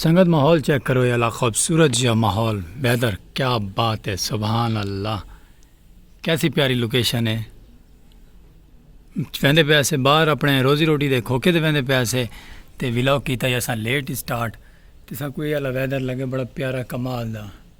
سنگت ماحول چیک کرو یہ علاقہ خوبصورت جا ماحول ویدر کیا بات ہے سبحان اللہ کیسی پیاری لوکیشن ہے ویندے پیسے باہر اپنے روزی روٹی دے کھوکے دے ویندے پیسے تے ولاگ کیتا یا سا لیٹ سٹارٹ تے سا کوئی اللہ ویدر لگے بڑا پیارا کمال دا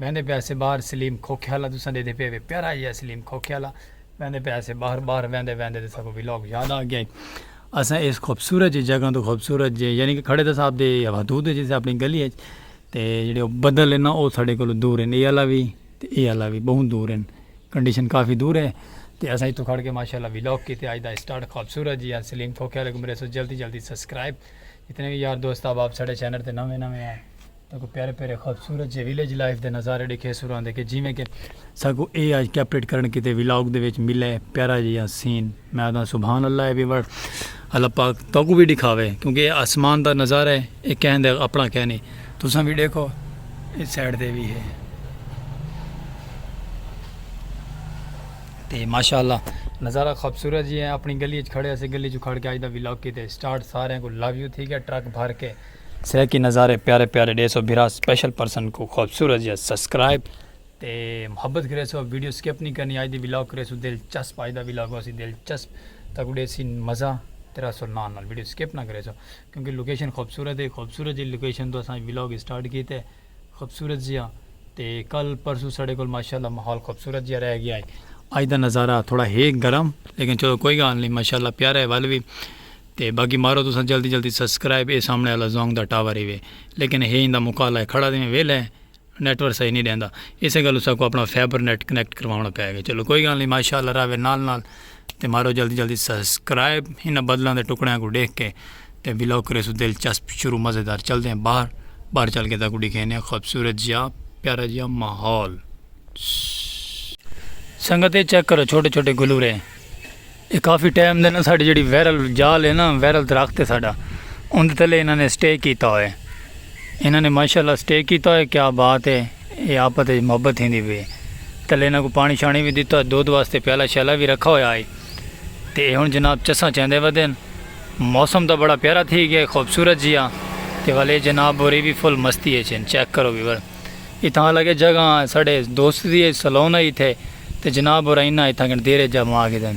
ویندے پیا سے باہر سلیم کھوکھیالہ تساں ڈیدھے پے وے پیارا جیا سلیم کھوکھیالہ ویندے پیا سے باہر باہر ویندے ویندے تے ساکوں ویلاگ یاد آ گیا اساں ایس خوبصورت جے جگہ توں خوبصورت جے یعنی کہ کھڑے تے صاحب دے حدود جے سے اپنی گلی اچ تے جڑے او بدل ہے نا او ساڈے کولو دور ہیں اے آلا وی تے اے آلا وی بہوں دور ہیں کنڈیشن کافی دور ہے تے اساں اتھوں کھڑ کے ماشاءاللہ ویلاگ کیتے اج دا سٹارٹ خوبصورت جیا سلیم کھوکھیالہ کوں میرے سو جلدی جلدی سبسکرائب جتنے وی یار دوست احباب ساڈے چینل تے نویں نویں ہیں۔ تاکو پیارے پیارے خوبصورت جے ویلیج لائف دے نظارے ڈکھے سو راندے کہ جیویں کہ ساکو اے آج کیپریٹ کرن کیتے ویلاگ دے وچ ملے پیارا جیہاں سین میں آدھاں سبحان اللہ اے وی وڑ اللہ پاک تاکو وی ڈکھاوے کیونکہ اے آسمان دا نظارہ ہے اے کہیں دے اپنا کہیں نہیں تساں وی ڈیکھو اس سائیڈ دے وی ہے تے ماشاءاللہ نظارہ خوبصورت جی ہے اپنی گلی اچ کھڑے اسے گلی جو کھڑ کے آج دا ویلاگ کیتے سٹارٹ سارے کو لو یو تھی گیا ٹرک بھر کے سرائیکی نظارے پیارے پیارے ڈے سو بھرا سپیشل پرسن کو خوبصورت جیا سبسکرائب تے محبت کرے سو ویڈیو سکپ نہیں کرنی آج دی ولاگ کرے سو دل چسپ آج دا ولاگ ہو سی دل چسپ تاکو ڈے سی مزہ تیرا سو نال نال ویڈیو سکپ نہ کرے سو کیونکہ لوکیشن خوبصورت ہے خوبصورت جی لوکیشن تو اساں ولاگ سٹارٹ کیتے خوبصورت جیہاں تے کل پرسوں ساڈے کول ماشاءاللہ ماحول خوبصورت جیہاں رہ گیا ہے اج دا نظارہ تھوڑا ہے گرم لیکن چلو کوئی گال نہیں ماشاءاللہ پیارا ہے ول وی تے باقی مارو تساں جلدی جلدی سبسکرائب اے سامنے والا زونگ دا ٹاور ہی وے لیکن ہے ایندا مکالا ہے کھڑا دیویں ویلے نیٹ ورک صحیح نہیں دیندا اسے گل اسا کو اپنا فائبر نیٹ کنیکٹ کروانا پے گا چلو کوئی گال نہیں ماشاءاللہ راوے نال نال تے مارو جلدی جلدی سسکرائب انہاں بدلاں دے ٹکڑیاں کوں ڈیکھ کے تے ولاگ کریسوں دلچسپ شروع مزیدار چلدے ہیں باہر باہر چل کے تاکوں ڈیکھینے ہیں خوبصورت جیا پیارا جیا ماحول سنگت اے چیک کرو چھوٹے چھوٹے گلورے اے کافی ٹائم دے نا ساڈی جڑی ویرل جال ہے نا ویرل درخت ہے ساڈا اون دے تلے انہاں نے سٹے کیتا ہوئے انہاں نے ماشاء اللہ سٹے کیتا ہوئے کیا بات ہے اے آپت اچ محبت تھیندی پئی ہے تلے انہاں کوں پانی شانی وی ڈتا ہوئے دودھ واسطے پیالہ شیالہ وی رکھا ہویا ہئی تے اے ہن جناب چساں چیندے ودن موسم تاں بڑا پیارا تھی گیا ہے خوبصورت جیا تے ول اے جناب ہوری وی فل مستی اچ ہن چیک کرو ویور اتھاں الگ اے جگہ ساڈے دوست دی اے سلون ہئی اتھے تے جناب ہورا انہاں اتھاں کن دیر اچ جا ماں گھدن۔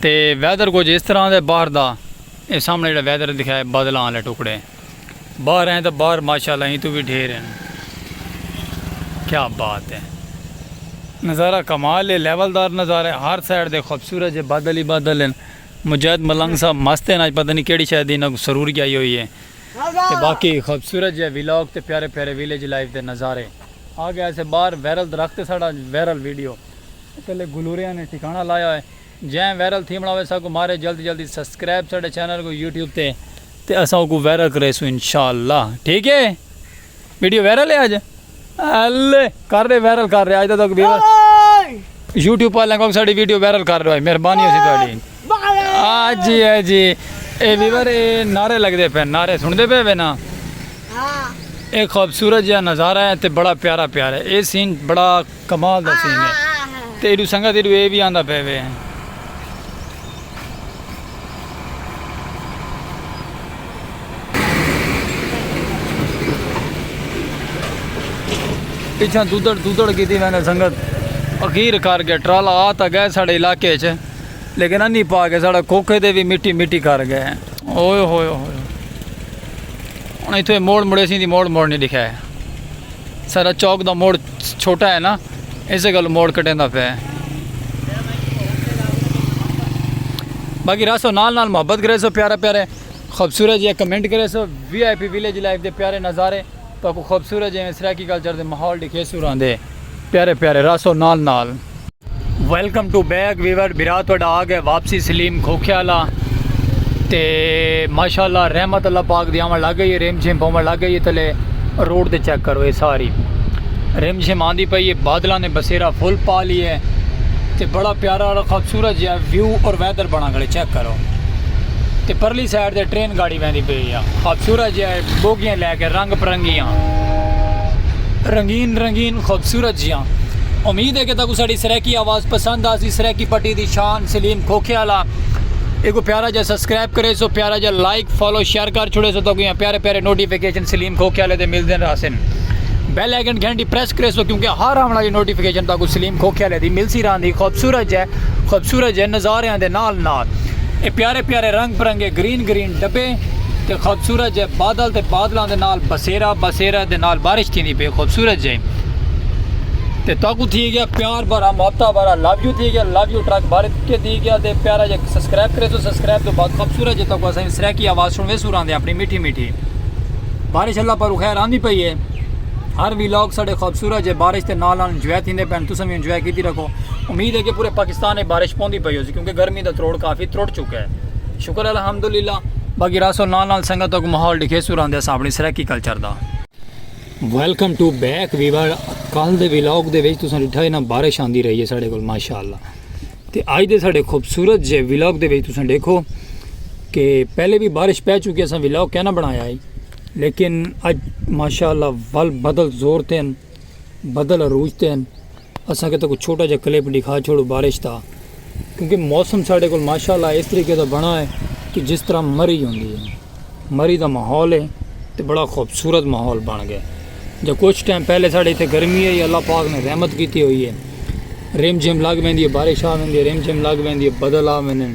تے ویدر کجھ اس طرح دے باہر دا اے سامنے جیڑا ویدر دکھیا اے بادلاں آلے ٹکڑے باہر ہیں تے باہر ماشاءاللہ ہیں تو وی ڈھیر ہیں کیا بات اے نظارہ کمال اے لیول دار نظارہ ہر سائیڈ دے خوبصورت جے بادل ہی بادل ہیں مجاہد ملنگ صاحب مست ہیں آج پتہ نہیں کیڑی شاید انہاں کو سرور گیا ہی ہوئی ہے تے باقی خوبصورت جے ویلاگ تے پیارے پیارے ویلیج لائف دے نظارے آگے ایسے باہر ویرل درخت ساڑا ویرل ویڈیو پہلے گلوریاں نے ٹھکانہ لایا ہوئے جیں وائرل تھیونڑا ہوئے ساکوں مارے جلدی جلدی سبسکرائب ساڈے چینل کوں یوٹیوب تے تے اساں اوکوں وائرل کریسوں انشاءاللہ ٹھیک ہے ویڈیو وائرل ہے اج الے کر رہے وائرل کر رہے اج تک ویور یوٹیوب والے کو ساڈی ویڈیو وائرل کر رہے مہربانی ہوسی تہاڈی آ جی آ جی اے ویور اے نعرے لگ دے پے نعرے سن دے پے وے نا اے خوبصورت جہاں نظارہ ہے تے بڑا پیارا پیارا ہے اے سین بڑا کمال دا سین ہے تے ایڈو سنگت ایڈو اے وی آندا پے وے ہیں۔ پچھاں دودڑ دودڑ کیتی ویندے سنگت اخیر کر گئے ٹرالا آ تا گئے ساڑے علاقے اچ لیکن انی پا کے ساڑا کوکھے دے وی مٹی مٹی کر گئے ہیں۔ اوئے ہوئے ہوئے ہوئے۔ انہاں ایتھے موڑ مڑے سیں دی موڑ موڑ نہیں دکھائے۔ سارا چوک دا موڑ چھوٹا ہے نا اسے گل موڑ کٹیں دا پہ باقی راسو نال نال محبت کرے سو پیارا پیارے خوبصورت جی کمنٹ کرے سو V I P village life دے پیارے نظارے تو خوبصورت جی سرائیکی کلچر دے ماحول دکھے سو راندے پیارے پیارے راسو نال نال ویلکم ٹو بیک ویور برا تو آ گئے واپسی سلیم کھوکھے والا تے ماشاءاللہ رحمت اللہ پاک دی آون لگ گئی ہے ریم جھیم پاون لگ گئی ہے تلے روڈ تے چیک کرو یہ ساری ریم جھیم آندی پئی ہے بادلاں نے بسیرا فل پا لی ہے تے بڑا پیارا اور خوبصورت جہا ویو اور ویدر بنا گلے چیک کرو تے پرلی سائیڈ تے ٹرین گاڑی ویندی پئی ہے خوبصورت جہا بوگیاں لے کے رنگ پرنگیاں رنگین رنگین خوبصورت جیاں امید ہے کہ تاکو ساڑی سریکی آواز پسند آسی سریکی پٹی دی شان سلیم کھوکھے آلا ایک پیارا جا سبسکرائب کرے سو پیارا جا لائک فالو شیئر کر چھوڑے سو تاکو یہاں پیارے پیارے نوٹیفیکیشن سلیم کھوکھے آلے دے مل دین راسن بیل آئیکن گھنٹی پریس کرے سو کیونکہ ہر آن والی نوٹیفیکیشن تاکو سلیم کھوکھے آلے دی مل سی ران دی خوبصورت جے خوبصورت جے نظارے آن دے نال نال اے پیارے پیارے رنگ پرنگے گرین گرین ڈبے تے خوبصورت جے بادل تے بادلاں دے نال بسیرا بسیرا دے نال بارش تھیندی پئی خوبصورت جے تے تاکو تھی گیا پیار بھرا محبتہ بھرا لو یو تھی گیا لو یو ٹرک بھر کے تھی گیا تے پیارا جے سبسکرائب کرے سو سبسکرائب تو بعد خوبصورت جے تاکو اساں سرکی آواز سنوے سو راندے اپنی میٹھی میٹھی بارش اللہ پر خیر آندی پئی ہے ہر ویلاگ ساڑے خوبصورت جے بارش تے نال نال انجوائے تھیندے پین تساں بھی انجوائے کیتی رکھو امید ہے کہ پورے پاکستان میں بارش پوندی پئی ہوسی کیونکہ گرمی دا تروڑ کافی تروڑ چکا ہے شکر الحمدللہ باقی راسو نال نال سنگت تک ماحول ڈکھے سو راندے اساں اپنی سرائیکی کلچر دا ویلکم ٹو بیک ویور کل دے ویلاگ دے وچ تساں ڈٹھا ہے نا بارش آندی رہی ہے ساڈے کول ماشاءاللہ تے اج دے ساڈے خوبصورت جے ویلاگ دے وچ تساں دیکھو کہ پہلے بھی بارش پہ چکی اساں ویلاگ کہنا بنایا ہے لیکن اج ماشاءاللہ ول بدل زور تین بدل عروج تین اساں کیتا کوئی چھوٹا جا کلپ ڈکھا چھوڑو بارش دا کیونکہ موسم ساڈے کول ماشاءاللہ اس طریقے دا بنا ہے کہ جس طرح مری ہوندی ہے مری دا ماحول ہے تے بڑا خوبصورت ماحول بن گئے جو کچھ ٹائم پہلے ساڈے ایتھے گرمی ہے اللہ پاک نے رحمت کیتی ہوئی ہے ریم جھم لگ ویندی ہے بارش آ ویندی ہے ریم جھم لگ ویندی ہے بدل آ ویندے ہیں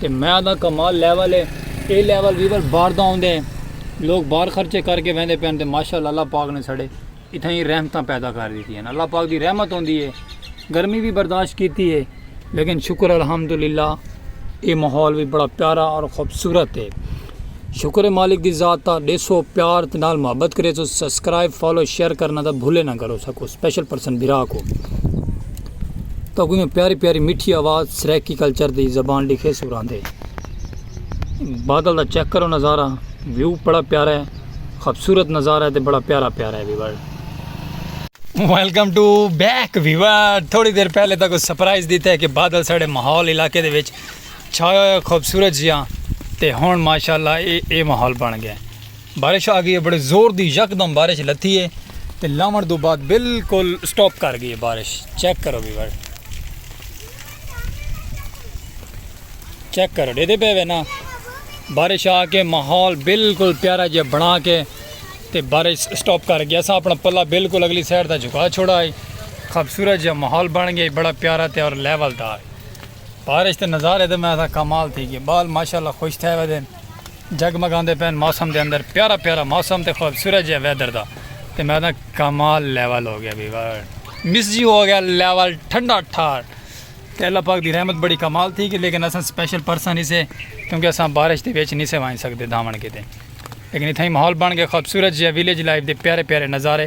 تے میں آہداں کمال لیول اے۔ اے لیول وی ول باہر دا آندے ہیں۔ لوگ باہر خرچے کر کے ویندے پین تے ماشاءاللہ اللہ پاک نے ساڈے اتھائیں رحمتاں پیدا کر دیتی ہیں۔ اللہ پاک دی رحمت ہوندی ہے۔ گرمی وی برداشت کیتی ہے۔ لیکن شکر الحمدللہ اے ماحول وی بڑا پیارا اور خوبصورت ہے۔ شکر ہے مالک دی ذات دا ڈیسو پیار تے نال محبت کرے سو سبسکرائب فالو شیئر کرنا دا بھولے نہ کرو سکو سپیشل پرسن بھرا کو تو کوئی پیاری پیاری میٹھی آواز سریکی کلچر دی زبان لکھے سو راندے بادل دا چیک کرو نظارہ ویو بڑا پیارا ہے خوبصورت نظارہ ہے تے بڑا پیارا پیارا ہے viewer welcome to back viewer تھوڑی دیر پہلے تک سرپرائز دیتا ہے کہ بادل ساڑے ماحول علاقے دے وچ چھایا ہویا خوبصورت جیا تے ہن ماشاءاللہ اے اے ماحول بن گئے بارش آ گئی ہے بڑے زور دی یکدم بارش لتھی ہے تے لاون دو بعد بالکل سٹاپ کر گئی ہے بارش چیک کرو بھی بار چیک کرو دے دے پے وے نا بارش آ کے ماحول بالکل پیارا جیا بنا کے تے بارش سٹاپ کر گیا سا اپنا پلا بالکل اگلی سائڈ دا جھکا چھوڑا ہے خوبصورت جیا ماحول بن گیا بڑا پیارا تے اور لیول دار بارش دے نظارے دے میں آساں کمال تھی گئے بال ماشاءاللہ خوش تھے وے دین جگ مگاندے پین موسم دے اندر پیارا پیارا موسم تے خوبصورت جے ویدر دا تے میں آساں کمال لیول ہو گیا بھی مس جی ہو گیا لیول ٹھنڈا ٹھار تے اللہ پاک دی رحمت بڑی کمال تھی گئی لیکن آساں سپیشل پرسن نہیں سے کیونکہ آساں بارش دے بیچ نہیں سے وائن سکتے دھامن کے دے لیکن اتھائی محول بن گئے خوبصورت جے ویلیج لائف دے پیارے پیارے نظارے